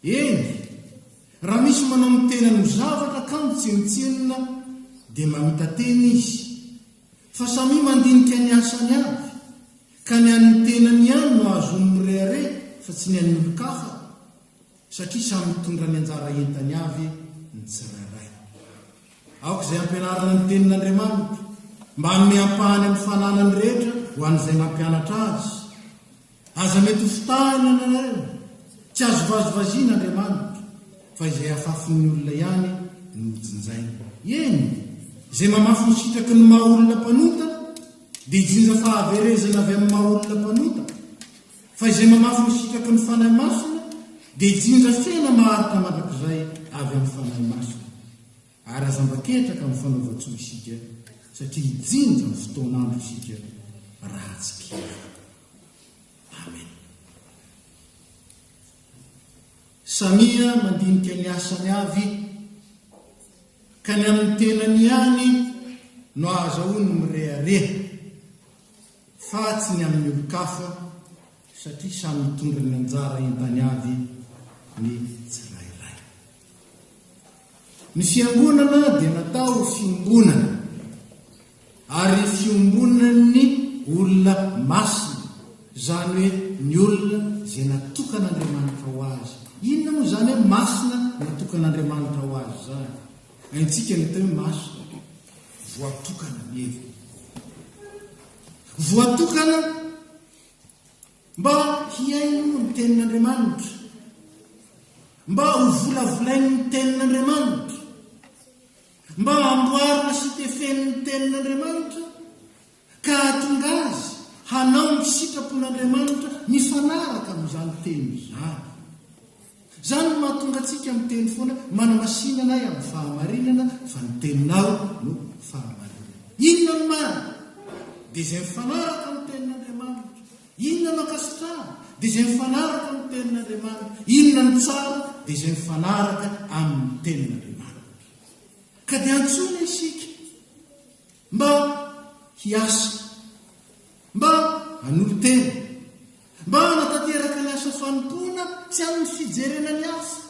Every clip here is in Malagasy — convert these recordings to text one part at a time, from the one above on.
Eny, raha misy manao ny tenany ho zavatra ka mitsenotsenona dia mamita-tena izy fa samia mandinika ny asany avy ka ny an'ny tenany ihany no ahazoany mirehareha fa tsy ny an'ny olon-kafa satria samy mitondra ny anjara entany avy ny tsirairay. Aoka izay ampianarana ny Tenin'Andriamanitra mba hanome ampahany amin'ny fananany rehetra ho an'izay mampianatra azy. Aza mety ho fitahana ianareo. Tsy azo vazivaziana Andriamanitra, fa izay afafin'ny olona ihany no hojinjainy. Eny, izay mamafy ny sitraky ny maha-olona mpanota, dia hijinja fahaverezana avy amin'ny maha-olona mpanota, fa izay mamafy ny sitraky ny Fanahy Masina, dia hijinja fihana maharitra mandrakizay avy amin'ny Fanahy Masina. Ary aza mba ketraka amin'ny fanaovan-tsoa isika, satria hijinja ny fotoan'andro isika raha tsy ketraka. Amen. Samia mandinika ny asany avy ka ny amin'ny tenany ihany no ahazahoany mirehareha fa tsy ny amin'ny olon-kafa satria samy mitondra ny anjara entany avy ny tsirairay. Ny fiangonana dia natao ho fiombonana ary fiombonan'ny olona masina, izany hoe ny olona izay natokan'Andriamanitra ho azy. Inona moa izany hoe masina natokan'Andriamanitra ho azy izany? Haintsika ny atao hoe masina, voatokana ny heviny. Voatokana Mba hihaino ny Tenin'Andriamanitra. Mba hovolavolainy ny Tenin'Andriamanitra. Mba hamboarina sy tefeny ny Tenin'Andriamanitra ka hahatonga azy hanao ny sitrapon'Andriamanitra mifanaraka amin'izany Teny izany. Izany no mahatonga antsika miteny foana, Manamasinana ahy amin'ny fahamarinana, fa ny Teninao no fahamarinana. Inona no marina? Dia izay mifanaraka amin'ny Tenin'Andriamanitra. Inona no ankasitrahana? Dia izay mifanaraka amin'ny Tenin'Andriamanitra. Inona no tsara? Dia izay mifanaraka amin'ny Tenin'Andriamanitra. Ka dia antsoina isika. Mba hiasa. Mba hanolo-tena. Mba hanatanteraka ny asa fanompoana tsy amin'ny fijerena ny hafa.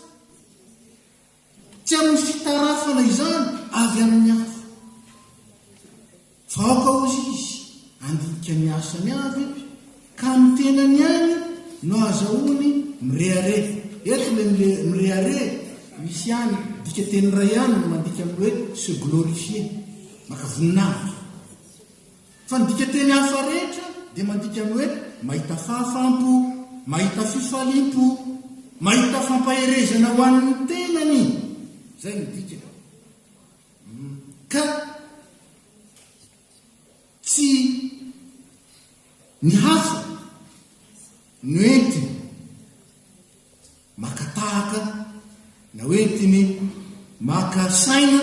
Tsy amin'ny fitarafana izany avy amin'ny hafa. Fa aoka hozy izy handika ny asany avy Ka ny tenany ihany no azahoany mirehareha. Eto ilay mirehareha misy ihany dikateny iray ihany no mandika amin'ny hoe se glorifier, maka voninahitra. Fa ny dikateny hafa rehetra dia mandika amin'ny hoe mahita fahafaham-po, mahita fifaliam-po, mahita fampaherezana ho an'ny tenany. Izay no dikany. Ka. Tsy ny hasiny no entiny maka tahaka na hoe entiny maka saina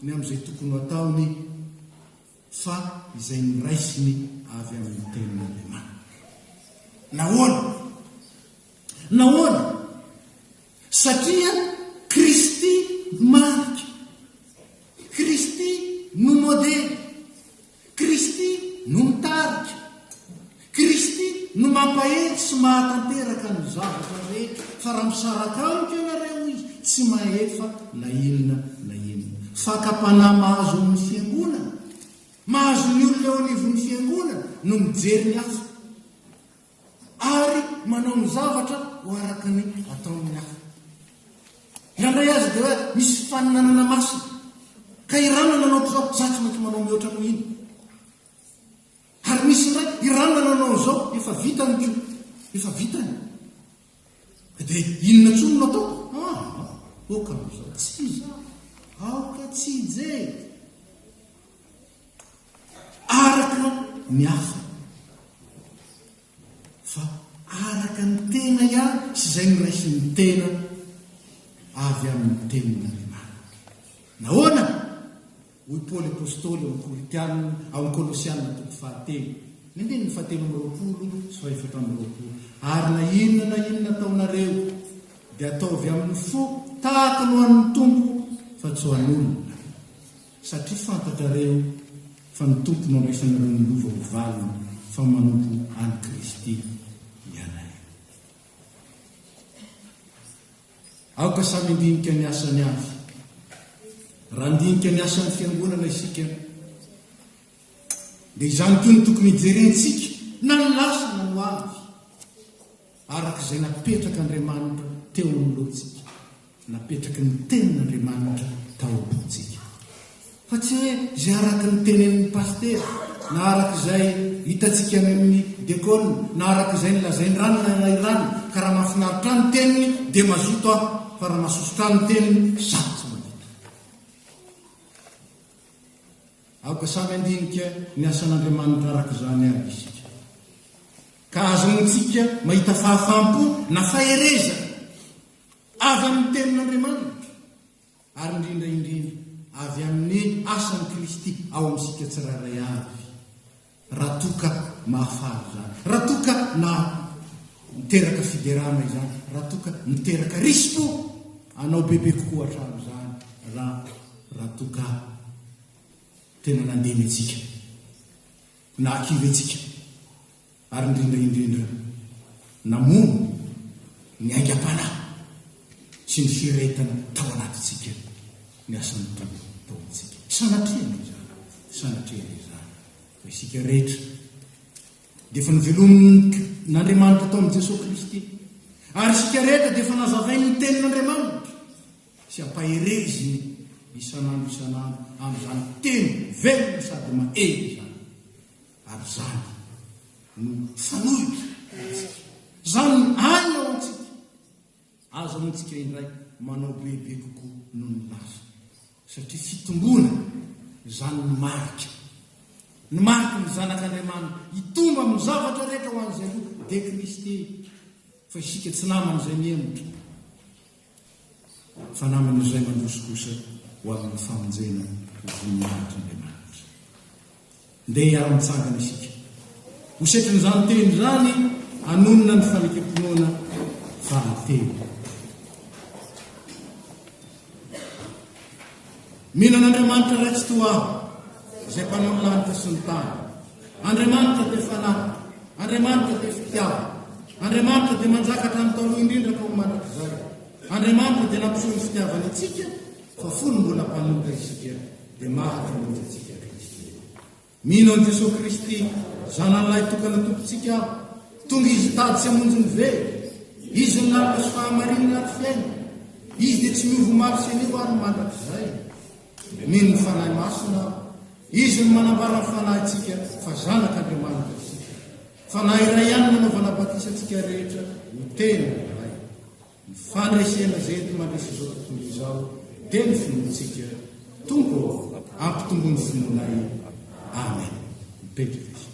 ny amin'izay tokony ho ataony fa izay noraisiny avy amin'ny Tenin'Andriamanitra. Nahoana? Nahoana? Satria Kristy no marika, Kristy no modely, Kristy no mitarika, Kristy no mampahery sy mahatanteraka ny zavatra rehetra, fa raha misaraka amiko ianareo, hoy Izy, tsy mahefa na inona na inona. Fakam-panahy mahazo amin'ny Fiangonana, mahazo ny olona eo anivon'ny Fiangonana no mijery ny hafa. ary manao ny zavatra ho araka ny ataon'ny hafa. Nandray azy dia hoe misy faninanana masina. Ka irana nanao izao, za tsy maintsy manao mihoatra noho iny. Ary misy indray, irana nanao izao, efa vitany ko, efa vitany. Dia inona tsony no atao? Ah, oka amin'izao, tsy izy. Aoka tsy hijery. Araka ny hafa. Fa araka ny tena ihany sy izay noraisin'ny tena avy amin'ny tenin'Andriamanitra. Nahoana? Hoy Paoly Apostoly ao amin'ny Korintianina, ao amin'ny Kolosianina toko fahatelo, ny andininy fahatelo amby roapolo sy fahefatra amby roapolo, Ary na inona na inona ataonareo, dia ataovy amin'ny fo tahaka ny ho an'ny Tompo, fa tsy ho an'olona. Satria fantatrareo fa ny Tompo no andraisanareo ny lova ho valiny fa manompo an'i Kristy ianareo. Aoka samy handinika ny asany avy. Raha handinika ny asan'ny Fiangonana isika, dia izany koa no tokony hijerentsika na ny lasa na ny ho avy. Araka izay napetrak' Andriamanitra teo amin' ny lohantsika, napetraky ny tenin' Andriamanitra tao am-pontsika. Fa tsy hoe izay araka ny tenenin' ny pasitera, na araka izay hitantsika any amin' ny dekôna, na araka izay nolazain-drano na ilay-rano, ka raha mahafinaritra ahy ny teniny, dia mazoto aho, fa raha mahasosotra ahy ny teniny, sarotra ny mahavita. Aoka samy handinika ny asan'Andriamanitra araka izany àry isika, ka azontsika mahita fahafaham-po na faherezana avy amin'ny Tenin'Andriamanitra, ary indrindra indrindra avy amin'ny asan'i Kristy ao amintsika tsirairay avy. Raha toa ka mahafaly izany, raha toa ka maha miteraka fiderana izany, raha toa ka miteraka risi-po anao bebe kokoa hatramin'izany, raha, raha toa ka tena nandeha mihetsika, nahakivy hetsika, ary indrindra indrindra namono ny aingam-panahy sy ny firehetana tao anatintsika ny asan'ny Tompo tao amintsika. Sanatria anie izany, sanatria anie izany fa isika rehetra dia efa novelomin'Andriamanitra tao amin'i Jesoa Kristy ary isika rehetra dia efa nazavainy ny tenin'Andriamanitra sy ampahereziny isan'andro isan'andro amin'izany teny velona sady mahery izany ary izany no fanohitra antsika. Izany no aina ho antsika. Aza moa tsika indray manao bebe kokoa noho ny lafiny satria fitomboana izany no marika ny mariky ny zanak' Andriamanina hitombo amin' ny zavatra rehetra ho an' izay roa dia Kristy fa isika tsy naman' izay mihemotra fa naman' izay mandroso kosa ho amin' ny famonjena ho voninahitr' Andriamanitra. Ndeha hiara-mitsangana isika ho setrin'izany teny izany hanonona ny fanekem-pinoana valinteny. Mino an'Andriamanitra iray tsy toa ahy, izay mpanao ny lanitra sy ny tany. Andriamanitra dia fanahy, Andriamanitra dia fitiavana, Andriamanitra dia manjaka hatramin'ny taloha indrindra ka ho mandrakizay. Andriamanitra dia nampiseho ny fitiavany antsika fa fony mbola mpanota isika. dia maty ho ody antsika kristiana. Mino an'i Jesoa Kristy, Zanany lahy tokana Tompontsika aho, tonga Izy hitady sy hamonjy ny very. Izy no lalana sy fahamarinana ary fiainana. Izy dia tsy miova omaly sy anio ary mandrakizay. Mino ny Fanahy Masina aho. Izy no manambara ny fanahintsika fa zanak'Andriamanitra isika. Fanahy iray ihany nanaovana batisa antsika rehetra ho tena iray. Ny fandresena izay enti-mandresy izao tontolo izao dia ny finoantsika. Tompo ô, ampitombo ny finoanay. Amen. Mipetraka isika.